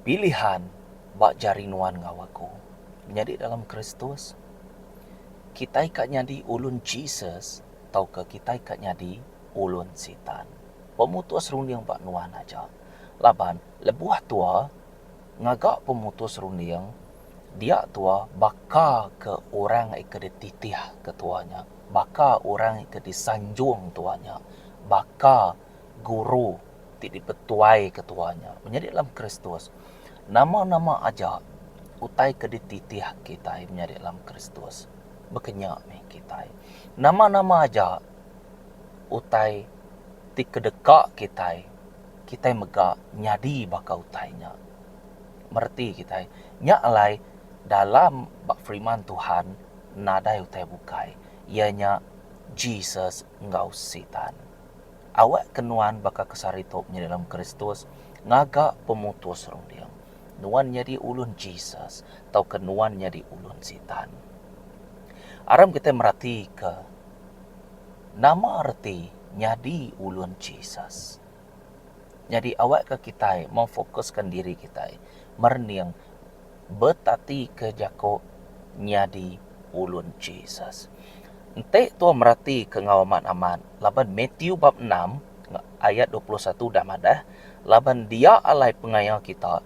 Pilihan ba jari nuan enggau aku. Menyadi dalam Kristus, kitai ka nyadi ulun Jesus tauka kitai ka nyadi ulun Sitan, pemutus runding ba nuan aja. Laban, lebuh tua, ngaga pemutus runding, dia tua baka ke orang ke dititih ke tua nya. Baka orang ke disanjung tua nya, baka guru ti dipetuaika tua nya menyadi dalam Kristus, nama-nama aja utai ke dititih kitai menyadi dalam Kristus baka nya meh kitai. Nama-nama aja utai ti kedeka kitai, kitai mega nyadi baka utai nya. Mereti kitai, nya alai dalam ba Firman Tuhan. nadai utai bukai, iya nya Jesus enggau Sitan. Awakka nuan baka kesari tu menyadi dalam Kristus ngaga pemutus runding, nuan nyadi ulun Jesus tauka nuan nyadi ulun Sitan. Aram kitai meratika nama reti nyadi ulun Jesus. Nyadi awakka kitai memfokuska diri kitai merening betatika jaku nyadi ulun Jesus. Enti tua meratika enggau amat-amat laban Mathew bab enam ayat dua puluh satu udah madah, Laban dia alai pengaya kita,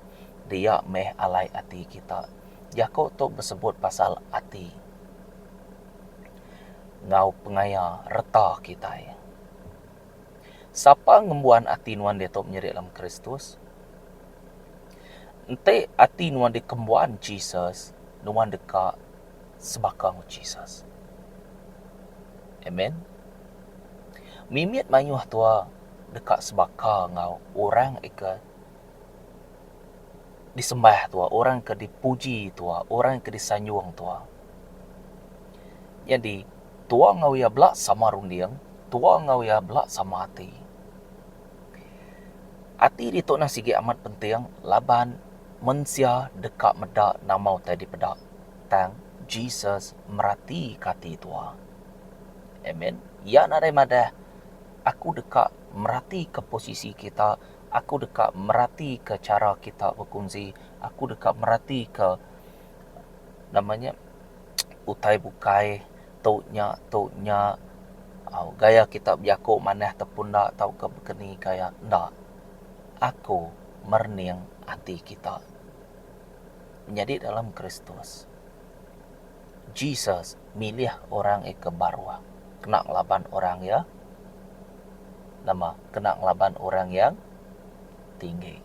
dia meh alai ati kita. Jaku tu besebut pasal ati enggau pengaya reta kitai. Sapa ngembuan ati nuan diatu menyedik dalam Kristus? Enti ati nuan dikembuan Jesus, nuan deka sebaka enggau Jesus. Amen. Mimit mayuh tua deka sebaka enggau orang ke disembah tua, orang ke dipuji tua, orang ke disanjung tua. Nyadi, Tua enggau iya bela sama runding, tua enggau iya bela sama ati. Ati ditu nah sigi amat penting laban mensia deka meda nama utai dipeda, tang Jesus meratika ati tua. Amen. Iya nadai madah, Aku deka meratika posisi kita, aku deka meratika chara kita bekunsi, aku deka meratika nama nya utai bukai tu nya tu nya au gaya kita bejaku manah te pun enda tauka bekeni gaya enda aku merening ati kita menyadi dalam Kristus Jesus milih orang e ke baruh kena ngelaban orang iya nama kena ngelaban orang yang tinggi.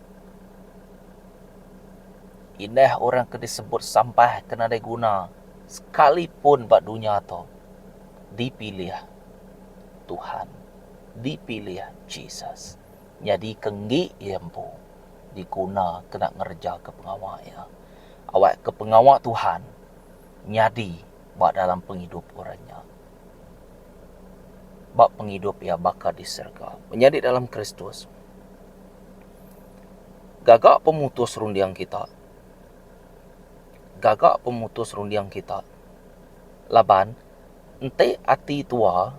Indah orang ke disebut sampah ke nadai guna sekalipun ba dunya tu dipilih Tuhan, dipilih Jesus nyadika enggi iya empu diguna kena ngerejaka pengawa iya. Awakka pengawa Tuhan nyadi ba dalam pengidup orang nya ba pengidup iya baka di serega. Menyadi dalam Kristus. Gaga pemutus runding kita. Gaga pemutus runding kita. Laban, enti ati tua,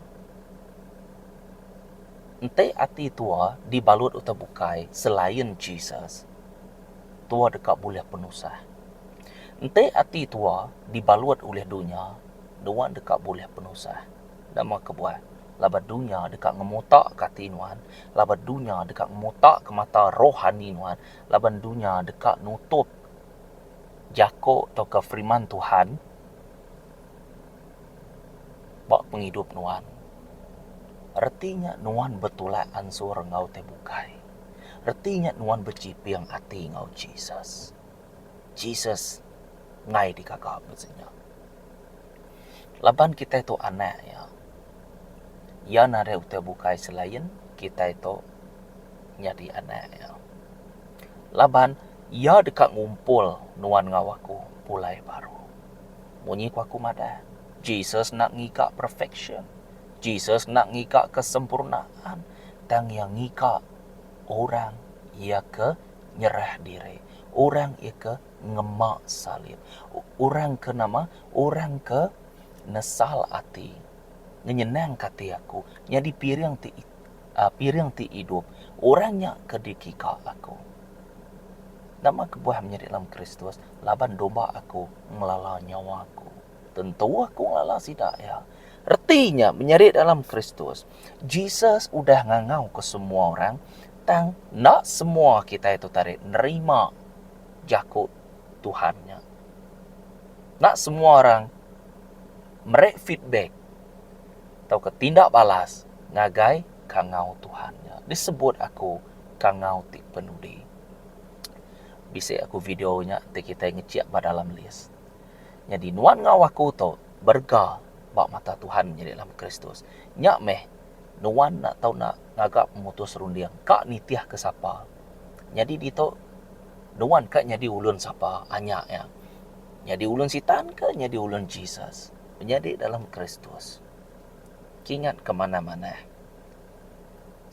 enti ati tua dibalut utai bukai selain Jesus, tua deka bulih penusah. Enti ati tua dibalut ulih dunya, nuan deka bulih penusah. Nama kebuah? laban dunya deka ngemotaka ati nuan, laban dunya deka ngemotaka mata rohani nuan, laban dunya deka nutup jako tauka firman Tuhan ba pengidup nuan. Reti nya nuan betulak ansur enggau tai bukai. Reti nya nuan bechiping ati enggau Jesus. Jesus enggai digaga bisi nya. Laban kitai tu anak iya, iya nadai utai bukai selain kitai tu nyadi anak iya. Laban iya deka ngumpul nuan enggau aku pulai baru. Munyi ku aku madah, Jesus enda ngiga perfeksyen. Jesus enda ngiga kesempurnaan. Tang iya ngiga orang iya ke. Nyerah diri. Orang ika ngema salib. Orang ke nama? Orang ke nesal ati. Ngenyenang ka ati aku. Nyadi piring ti piring ti idup. Orang nya ke dikika aku. Nama kebuah menyadi dalam Kristus? Laban domba aku ngelala nyawa aku. Tentu aku ngelala sida iya. Reti nya, menyadi dalam Kristus, Jesus udah ngangauka semua orang, tang enda semua kitai tu tadi nerima jaku Tuhan nya. Enda semua orang meri feedback tauka tinda balas ngagai kangau Tuhan nya. Disebut aku kangau ti penudi. Bisi aku video nya enti kitai ngechik ba dalam list. Nyadi nuan enggau aku tu berega ba mata Tuhan nyadi dalam Kristus. Nya meh, nuan enda tau enda ngaga pemutus runding ka nitihka sapa. Nyadi ditu, nuan ka nyadi ulun sapa anya iya. Nyadi ulun Sitan ke nyadi ulun Jesus, menyadi dalam Kristus. Kingat ke manah-manah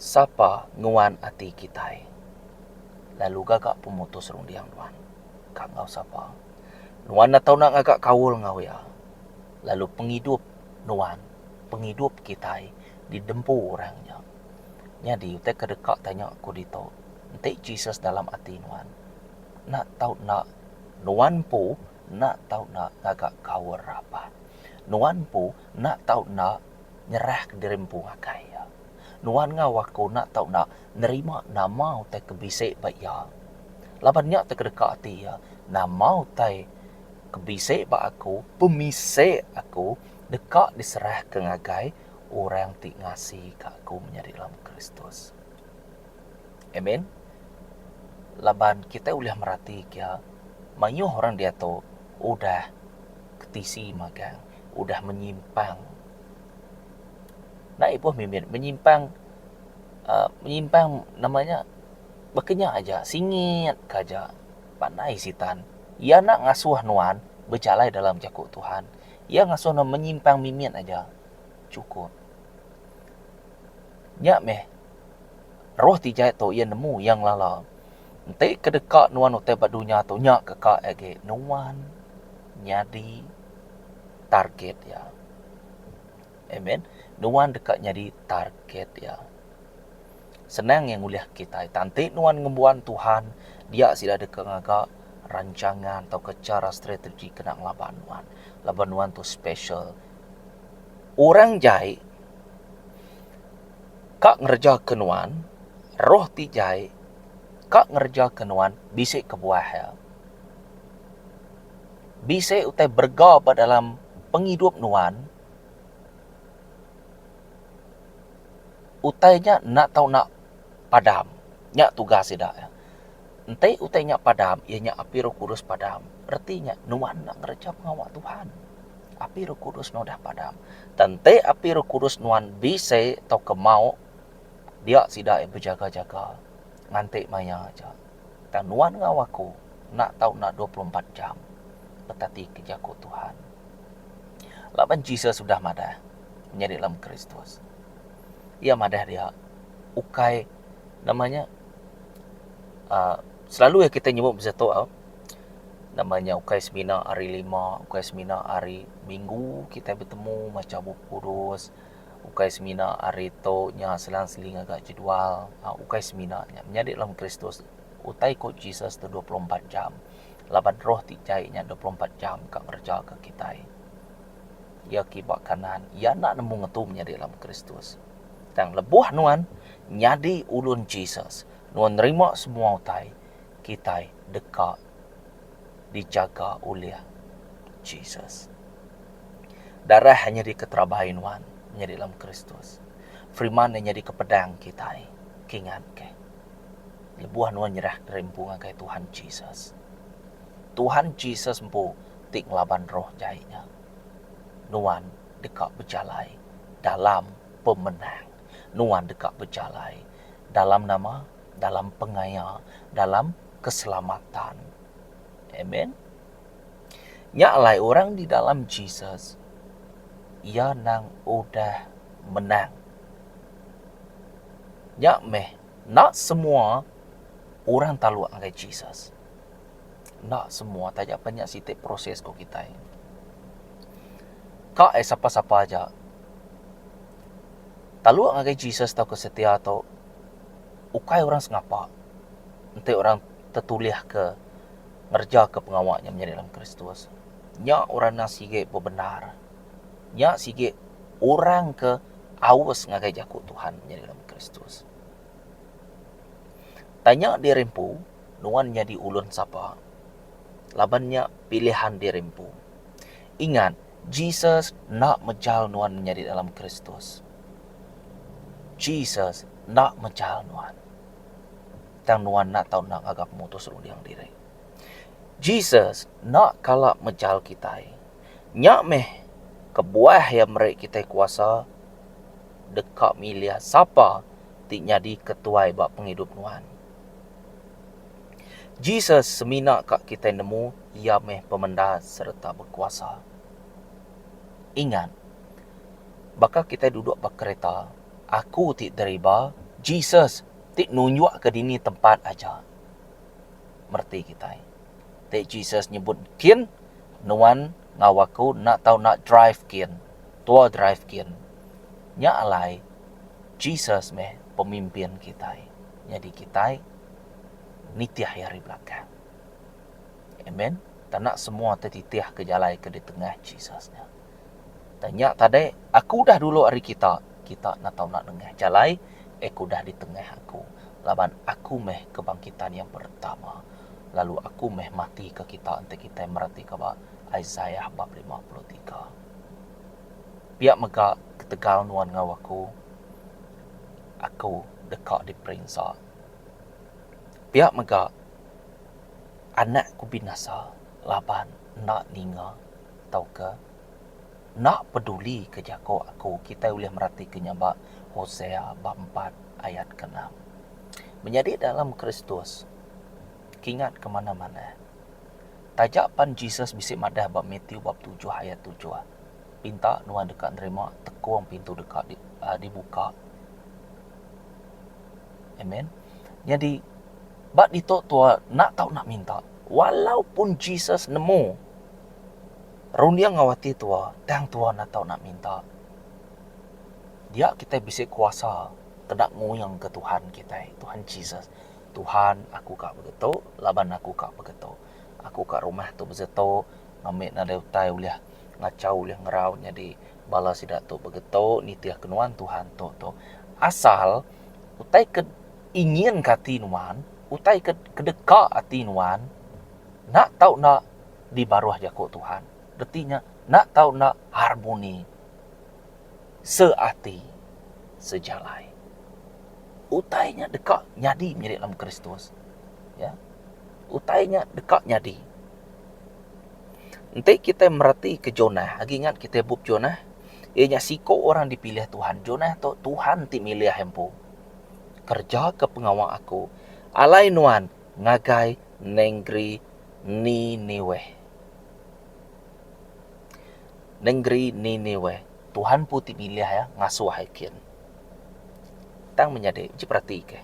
sapa nuan ati kitai, lalu gaga pemutus runding nuan ka enggau sapa. Nuan enda tau enda ngaga kaul enggau iya, lalu pengidup nuan, pengidup kitai didempu orang nya. Nyadi utai ke deka tanya aku ditu, enti Jesus dalam ati nuan, enda tau enda nuan empu enda tau enda ngaga kaul rapat. Nuan empu enda tau enda nyerahka diri empu ngagai iya. Nuan enggau aku enda tau enda nerima nama utai ke bisi ba iya. Laban nya ti ke deka ati iya, nama utai ke bisi ba aku, pemisi aku, deka diserahka ngagai orang ti ngasika aku menyadi lama Kristus. Amen. Laban kitai ulih meratika iya, mayuh orang diatu udah ke tisi magang, udah menyimpang. Enda ibuh mimit menyimpang menyimpang nama nya baka nya aja singit ka aja panai sitan iya enda ngasuh nuan bejalai dalam jaku Tuhan iya ngasuh nuan menyimpang mimit aja cukup nya meh roh ti jai tu iya nemu iya ngelala enti ke deka nuan utai ba dunya tu nya ke ka agi nuan nyadi target iya. Amen. Nuan deka nyadi target iya. Senang iya ngulih kitai. Tang enti nuan ngembuan Tuhan, dia sida deka ngaga rancangan tauka chara strategi kena ngelaban nuan. Laban nuan tu special. Orang jai ka ngerejaka nuan, roh ti jai ka ngerejaka nuan bisi kebuah iya. bisi utai berega ba dalam pengidup nuan, utai nya enda tau nak padam. Nya tugas sida. Enti utai nya padam, iya nya api roh kudus padam. Reti nya nuan enda ngereja pengawa Tuhan. Api roh kudus nuan udah padam. Tang enti api roh kudus nuan bisi tauka mauk, dia sida bejaga-jaga nganti maya aja. Tang nuan enggau aku enda tau enda dua puluh empat jam betati ke jaku Tuhan. Laban Jesus udah madah menyadi lem Kristus. Iya madah dia ukai nama nya uhh selalu iya kitai nyebut pasal tu au nama nya ukai semina hari lima, ukai semina hari minggu kitai betemu macha Bup Kudus. ukai semina ari tu nya selang-seling ngaga jedual ukai semina nya menyadi dalam Kristus utai ku Jesus tu dua puluh empat jam laban roh ti jai nya dua puluh empat jam ka ngereja ka kitai iya kiba kanan iya enda nemu ngetu menyadi dalam Kristus tang lebuh nuan nyadi ulun Jesus nuan nerima semua utai kitai deka dijaga ulih Jesus. Darah iya nyadi keterabai nuan nyadi dalam Kristus. Firiman iya nyadika pedang kitai. Kingatke. Lebuh nuan nyerah diri empu ngagai Tuhan Jesus. Tuhan Jesus empu ti ngelaban roh jai nya. Nuan deka bejalai dalam pemenang. Nuan deka bejalai dalam nama? Dalam pengaya, dalam. keselamatan. Amen. Nya alai orang di dalam Jesus iya nang udah menang. Nya meh nak semua orang taluk ngagai Jesus. Nak semua taja pen nya siti proses ko kitai. Ka ai sapa-sapa aja taluk ngagai Jesus tauka setia to ukai orang sengapa enti orang tetulihka ngerejaka pengawa nya menyadi dalam Kristus, nya orang enda sigi bebendar. Nya sigi orang ke aus ngagai jaku Tuhan menyadi dalam Kristus. Tanya diri empu, nuan nyadi ulun sapa? Laban nya pilihan diri empu. Ingat, Jesus enda mejal nuan menyadi dalam Kristus. Jesus enda mechal nuan, tang nuan enda tau enda ngaga pemutus runding diri. Jesus enda kala mechal kitai. Nya meh kebuah iya meri kitai kuasa deka milih sapa ti nyadi ketuai ba pengidup nuan. Jesus semina ka kitai nemu iya meh pemendar sereta bekuasa. Ingat. Baka kitai duduk ba kereta, aku ti deriba, Jesus ti nunjukka dini tempat aja. Mereti kitai. Ti Jesus nyebut kin, Nuan enggau aku enda tau enda drive kin. Tua drive kin. Nya alai Jesus meh pemimpin kitai. Nyadi kitai nitih iya ari belakang. Amen. Tana semua ti titih ke jalai ke di tengah Jesus nya. Tang nya tadi aku udah dulu ari kita, kita enda tau enda nengah jalai eh ke udah ditengah aku laban aku meh kebangkitan yang pertama lalu aku meh matika kita enti kitai meratika ba Isaiah bab lima puluh tiga. Pia mega ketegal nuan enggau aku, aku deka diperinsa. Pia mega anak ku binasa laban enda ninga. tauka enda peduli ke jaku aku, kitai ulih meratika nya ba Hosea bab empat ayat ke enam. Menyadi dalam Kristus kingat ke manah manah. Taja pan Jesus bisi madah ba Matthew bab tujuh ayat tujuh, Pinta nuan deka nerima, tekung pintu deka dibuka. Amen. Nyadi ba ditu tua enda tau nak minta. Walaupun Jesus nemu. Runding enggau ati tua, tang tua enda tau nak minta. Dia kitai bisi kuasa peda nguyung ke Tuhan kitai, Tuhan Jesus. Tuhan, aku ka begitu laban aku ka begitu. Aku ka rumah tu begitu ngami nadai utai ulih ngachau ulih ngerau nyadi bala sida tu begitu nitih ke nuan Tuhan tu tu. Asal utai ke inginka ati nuan, utai ke kedeka ati nuan. Enda tau enda dibaruh jaku Tuhan, reti nya enda tau enda harmoni, seati, sejalai. Utai nya deka nyadi menyadi dalam Kristus. Ya. Utai nya deka nyadi. Enti kitai meretika Jonah, agi ingat kitai bup Jonah? Iya nya siku orang dipilih Tuhan. Jonah tu Tuhan ti milih iya empu. Kerejaka pengawa aku. Alai nuan, ngagai nengeri Niniweh. Nengeri Niniweh. Tuhan empu ti milih iya ngasuh ai kin. Tang menyadi, enti peratika.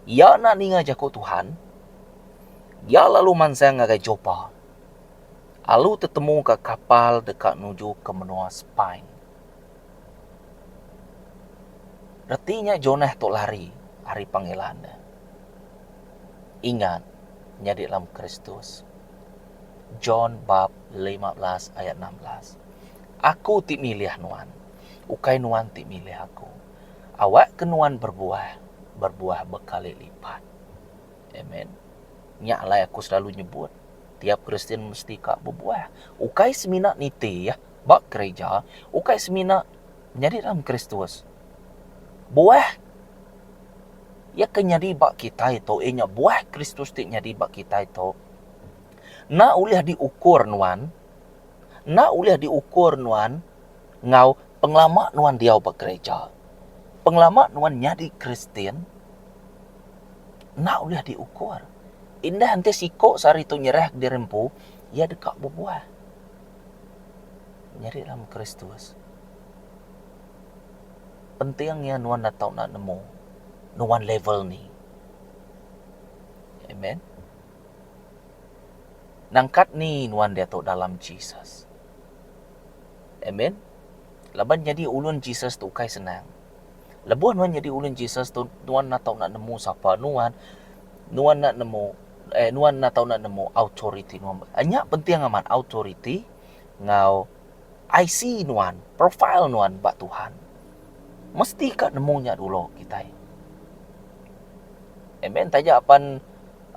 Iya enda ninga jaku Tuhan, iya lalu mansang ngagai Jopa, alu tetemuka kapal deka nuju ke menua Spain. Reti nya Jonah tu lari ari panggilan nya. Ingat nyadi dalam Kristus. John bab lima belas ayat enam belas. Aku ti milih nuan, ukai nuan ti milih aku. Awakka nuan berbuah, berbuah bekali lipat. Amen. Nya alai aku selalu nyebut, tiap Kristian mesti ka bebuah. Ukai semina niti, Ba kereja, ukai semina nyadi dalam Kristus. Buah Iya ke nyadi ba kitai tu, iya nya buah Kristus ti nyadi ba kitai tu, enda ulih diukur nuan, enda ulih diukur nuan enggau pengelama nuan diau ba kereja. Pengelama nuan nyadi Kristian enda ulih diukur. Indah enti siku sehari tu nyerahka diri empu, iya deka bebuah. Nyadi dalam Kristus, penting iya nuan enda tau enda nemu nuan level ni. Amen. Nangkat ni nuan diatu dalam Jesus. Amen. Laban nyadi ulun Jesus tu ukai senang. Lebuh nuan nyadi ulun Jesus tu, nuan enda tau enda nemu sapa nuan. Nuan enda nemu eh nuan enda tau enda nemu authority nuan bah. Ah nya penting amat authority enggau IC nuan, profile nuan ba Tuhan. Mesti ka nemu nya dulu kitai. Amen taja pan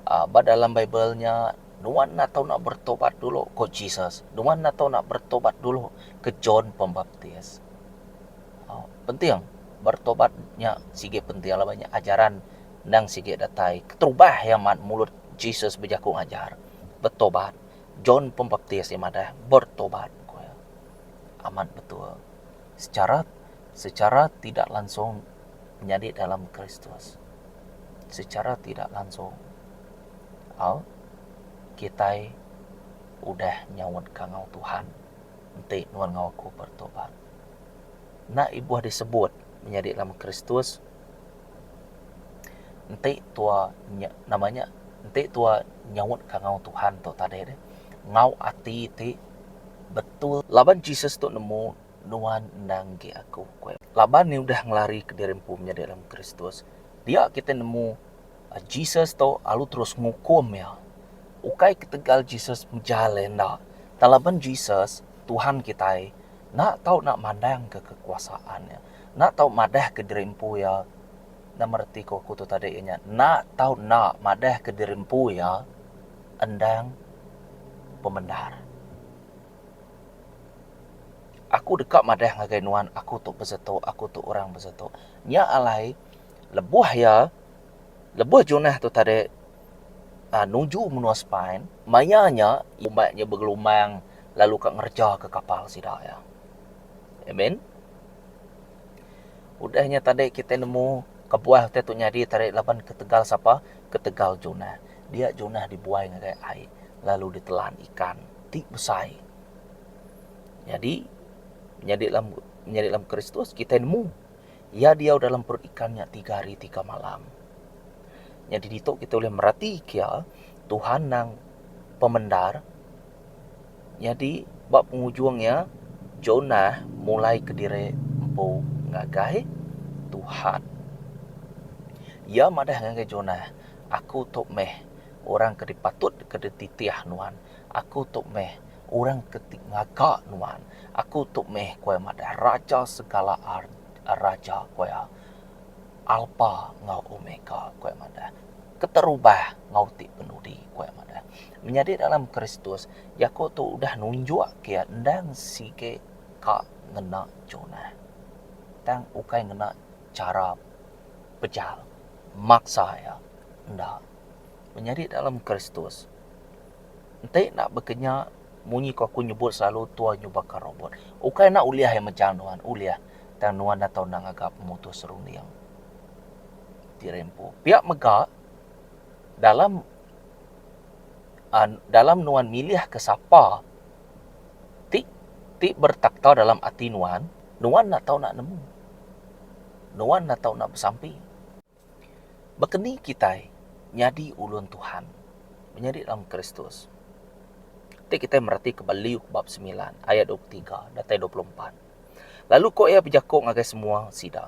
a ba dalam bible nya nuan enda tau enda beretobat dulu ko Jesus. Nuan enda tau enda beretobat dulu ke John Pembaptis. Au penting beretobat nya sigi penting laban nya ajaran Endang sigi datai keterubah iya mat mulut Jesus bejaku ngajar, Betobat, John Pembaptis iya madah, Bertobat, ku iya. Amat betul. Sechara sechara tidak langsung nyadi dalam Kristus. Sechara tidak langsung. Au, kitai udah nyaut ka enggau Tuhan, Enti nuan enggau aku bertobat. Enda ibuh disebut menyadi dalam Kristus. Enti tua nya nama nya enti tua nyaut ka enggau Tuhan tu tadi deh enggau ati ti betul. Laban Jesus tu nemu nuan endang enggi aku ku iya. Laban iya udah ngelari ke diri empu menyadi dalam Kristus, dia kitai nemu Jesus tu lalu terus ngukum iya. Ukai ketegal Jesus mejal iya enda, tang laban Jesus Tuhan kitai enda tau enda mandangka kekuasaan iya. Enda tau madahka diri empu iya. Nama reti ke oku tu tadi iya nya? Enda tau enda madahka diri empu iya endang pemendar. Aku deka madah ngagai nuan aku tu besetu, aku tu orang besetu. Nya alai lebuh iya, lebuh Jonah tu tadi nuju menua Spain, maya nya iya umat nya begelumbang lalu ka ngerejaka kapal sida iya. Amen. Udah nya tadi kitai nemu kebuah utai tu nyadi tadi laban ketegal sapa? Ketegal Jonah. Dia Jonah dibuai ngagai ai lalu ditelan ikan ti besai. Nyadi nyadi dalam nyadi dalam Kristus kitai nemu Iya diau dalam perut ikan nya tiga hari tiga malam. Nyadi ditu kitai ulih meratika Tuhan nang pemendar. Nyadi, ba pengujung iya, Jonah mulai kediri empu ngagai Tuhan. Iya madah ngagai Jonah, Aku tu meh orang ke dipatut ke dititih nuan. Aku tu meh orang ke ti ngaga nuan. Aku tu meh, ku iya madah, raja segala raja, ku iya. Alpa enggau Omega, ku iya madah. Keterubah enggau ti penudi, ku iya madah. Menyadi dalam Kristus, jaku tu udah nunjukka iya endang sigi ka ngena Jonah. Tang ukai ngena chara pejal, maksa iya. Enda. Menyadi dalam Kristus, enti enda bekenya munyi ke aku nyebut selalu tua nyubaka robot. Ukai enda ulih iya mejal nuan, ulih. Tang nuan enda tau enda ngaga pemutus runding. Ti Rempu. Pia mega, dalam dalam nuan milihka sapa ti ti bertakhta dalam ati nuan, nuan enda tau enda nemu. Nuan enda tau enda besampi. Baka ni kitai nyadi ulun Tuhan, menyadi dalam Kristus? Enti kitai meratika ba Luke bab semilan ayat dua puluh tiga datai dua puluh empat, Lalu ko iya bejaku ngagai semua sida,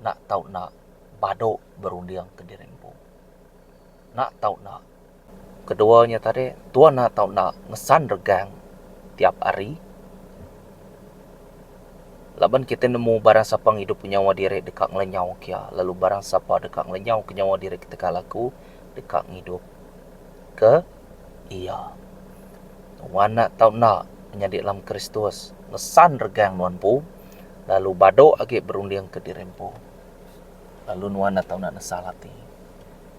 Enda tau enda badu berunding ke diri empu. Enda tau enda. Kedua nya tadi, tuan enda tau enda ngesan regang tiap hari. Laban kitai nemu barang sapa ngidup ke nyawa diri deka ngelenyau ke iya, lalu barang sapa deka ngelenyau ke nyawa diri ketegal aku deka ngidup ke iya. Wang enda tau enda menyadi dalam Kristus, ngesan regang nuan empu. Lalu badu agi berunding ke diri empu, lalu nuan enda tau nesal ati.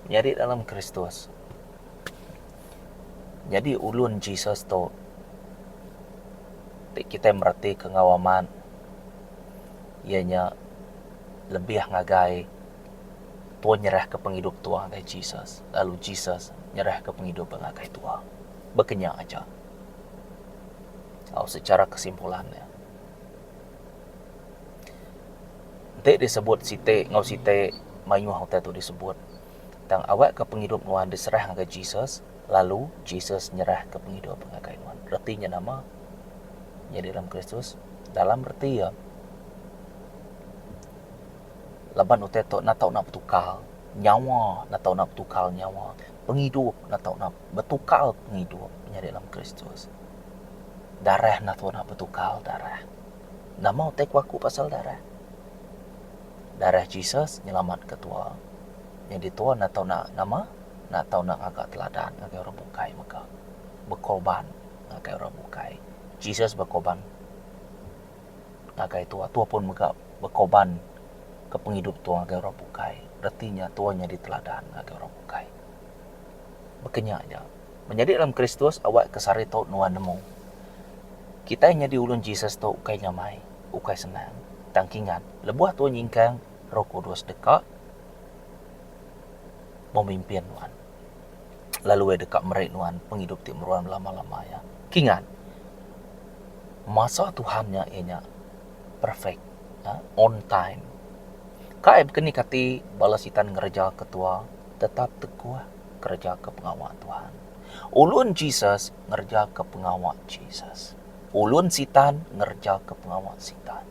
Menyadi dalam Kristus, nyadi ulun Jesus tu ti kitai meretika enggau amat iya nya lebih ngagai tua nyerahka pengidup tua ngagai Jesus lalu Jesus nyerahka pengidup iya ngagai tua. Baka nya aja. Au secara kesimpulan ne. Enti disebut siti enggau siti mayuh utai tu disebut tang awakka pengidup nuan diserah ngagai Jesus lalu Jesus nyerahka pengidup ngagai nuan. Reti nya nama? Nya di dalam Kristus dalam reti iya laban utai tu enda tau betukar nyawa enda tau betukar nyawa pengidup enda tau betukar pengidup nya di dalam Kristus. Darah enda tau nak betukar darah. Nama utai ku aku pasal darah? Darah Jesus nyelamatka tua. Nyadi tua enda tau nak nama, enda tau nak ngaga teladan ngagai orang bukai mega. Bekorban ngagai orang bukai. Jesus bekorban ngagai tua, tua pun mega bekorban ke pengidup tua ngagai orang bukai. Reti nya tua nyadi teladan ngagai orang bukai. Baka nya aja. Menyadi dalam Kristus awak ke sehari tu nuan nemu. Kitai nyadi ulun Jesus tu ukai nyamai, ukai senang. Tang kingat, lebuh tu nyingkang Roh Kudus deka memimpin nuan lalu Iya deka meri nuan pengidup ti meruan belama-lama iya. Kingat, masa Tuhan nya iya nya perfect, on time. Kai bekenikati bala Sitan ngereja ketua. Tetap teguh ngerejaka pengawa Tuhan. Ulun Jesus ngerejaka pengawa Jesus. Ulun Sitan ngerejaka pengawa Sitan.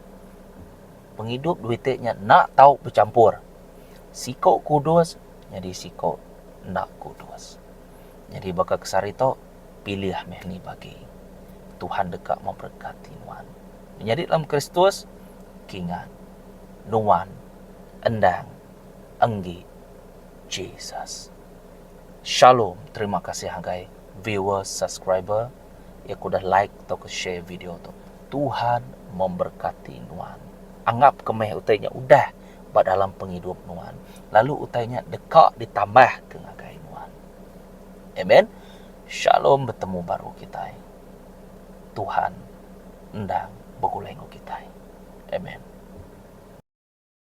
Pengidup dua iti nya enda tau bechampur. Siku kudus nyadi siku enda kudus. Nyadi baka kesari tu, pilih meh ni bagi. Tuhan deka meberekati nuan. Menyadi dalam Kristus, kingat, nuan endang enggi Jesus. Shalom terima kasih agai viewers subscriber ya ke udah like tauka share video tu. Tuhan memberkati nuan. Anggap ke meh utai nya udah ba dalam pengidup nuan lalu utai nya deka ditambah ke ngagai nuan. Amen. Shalom betemu baru kitai. Tuhan endang begulai enggau kitai. Amen.